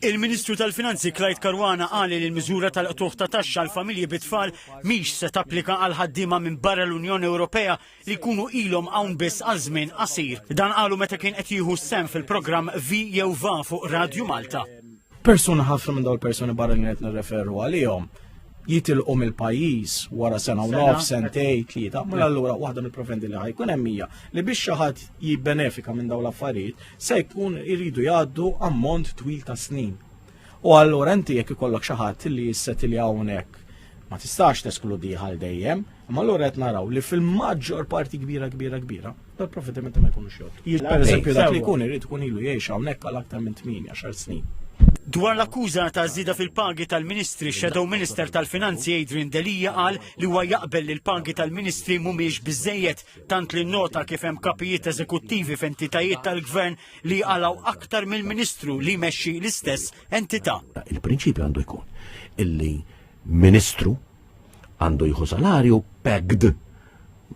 Il-Ministru tal-Finanzi Clyde Caruana qal li l-miżura tal-qtuħ ta' taxxa għal familji bi tfal mhix se tapplika għal ħaddiema minn barra l-Unjoni Ewropea li jkunu ilhom hawn biss għal żmien qasir. Dan qalu meta kien qed jieħu sem fil-programm Vi jew Va fuq Radju Malta. Persuna ħafna minn dawn il-persuni barra li qed nirreferu għalihom jitilqu mill-pajjiż wara sena u nof, sentej, tlieta, mela allura waħda mill-profendi li ħajkun hemm hija li biex xi ħadd jibbenefika minn dawn l-affarijiet se jkun iridu jgħaddu ammont twil ta' snin. U allura inti jekk ikollok xi ħadd li jissetilja hawnhekk ma tistax teskludi għal dejjem, imma allura qed naraw li fil-maġġor parti kbira kbira kbira, tal-profitimenti ma jkunux jgħod. Jiġ per eżempju dak li jkun irid ikun ilu jgħix hawnhekk għal aktar minn 8 snin. Dwar l-akkuża ta' żieda fil-pagi tal-Ministri, Shadow Minister tal-Finanzi Adrian Delia qal li huwa jaqbel li l-pagi tal-Ministri mhumiex biżejjed tant li nnota kif hemm kapijiet eżekuttivi f'entitajiet tal-gvern li jqalgħu aktar mill-Ministru li jmexxi l-istess entità. Il-prinċipju għandu jkun illi Ministru għandu jieħu salarju pegged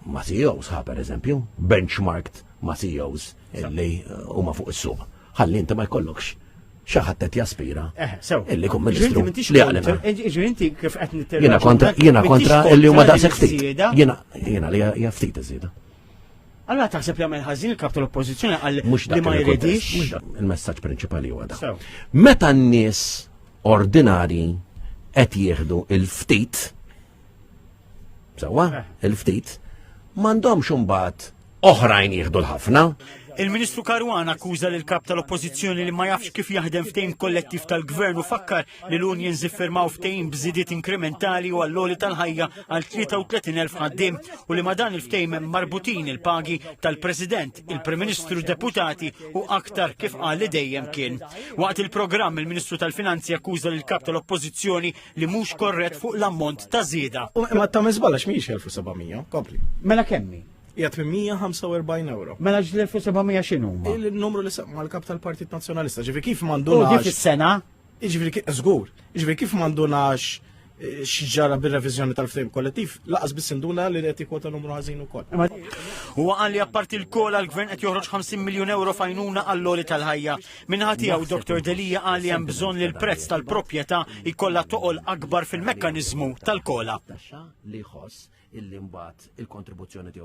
ma' CEOs ħa per eżempju, benchmarked ma' CEOs. illi huma fuq is-suq. Ħalli inti ma jkollokx xaħat qed jaspira. Eh, illi kum ministru li għalina. Ġri inti kif qed nitterra. Jiena kontra jiena kontra illi huma daqshekk ftit. Jiena jiena li hija ftit iżida. Allora taħseb li għamil ħażin il-kap tal-oppożizzjoni għal li ma jridix. Il-messaġġ prinċipali huwa da. Meta n-nies ordinari qed jieħdu il-ftit Sawa, eh. il-ftit, mandomx umbat oħrajn jieħdu l-ħafna. Il-Ministru Karwan akkuża l kap tal-Oppożizzjoni li ma jafx kif jaħdem ftejn kollettiv tal-Gvern u fakkar li l-Union ziffirmaw ftejn bżidiet inkrementali u għall-oli tal-ħajja għal 33.000 ħaddim u li ma dan il-ftejn marbutin il-pagi tal-President, il-Prim Ministru deputati u aktar kif qal li dejjem kien. Waqt il-programm il-Ministru tal-Finanzi akkuża l kap tal-Oppożizzjoni li mhux korrett fuq l-ammont ta' żieda. Ma ta' miżbalax mhijiex 1700, kompli. Mela kemmi? Hija 845 euro. Mela ġl-1700 x'inhu? Il-numru li semma l-kap tal-Partit Nazzjonalista, ġifi kif mandu. U dik is-sena? Ġifi kif żgur, ġifi kif mandunax eh, xġara bil-revizjoni tal-ftehim kollettiv, laqas biss induna li qed jikwota numru ħażin ukoll. Huwa qal li apparti l-kol għall-gvern qed joħroġ 50 miljun euro fajnuna għall-loli tal-ħajja. Minħa tiegħu Dr Delia qal li hemm bżonn li l-prezz tal-proprjetà jkollha toqol akbar fil-mekkaniżmu tal-kola. Taxxa li jħoss illi mbagħad il-kontribuzzjoni tiegħu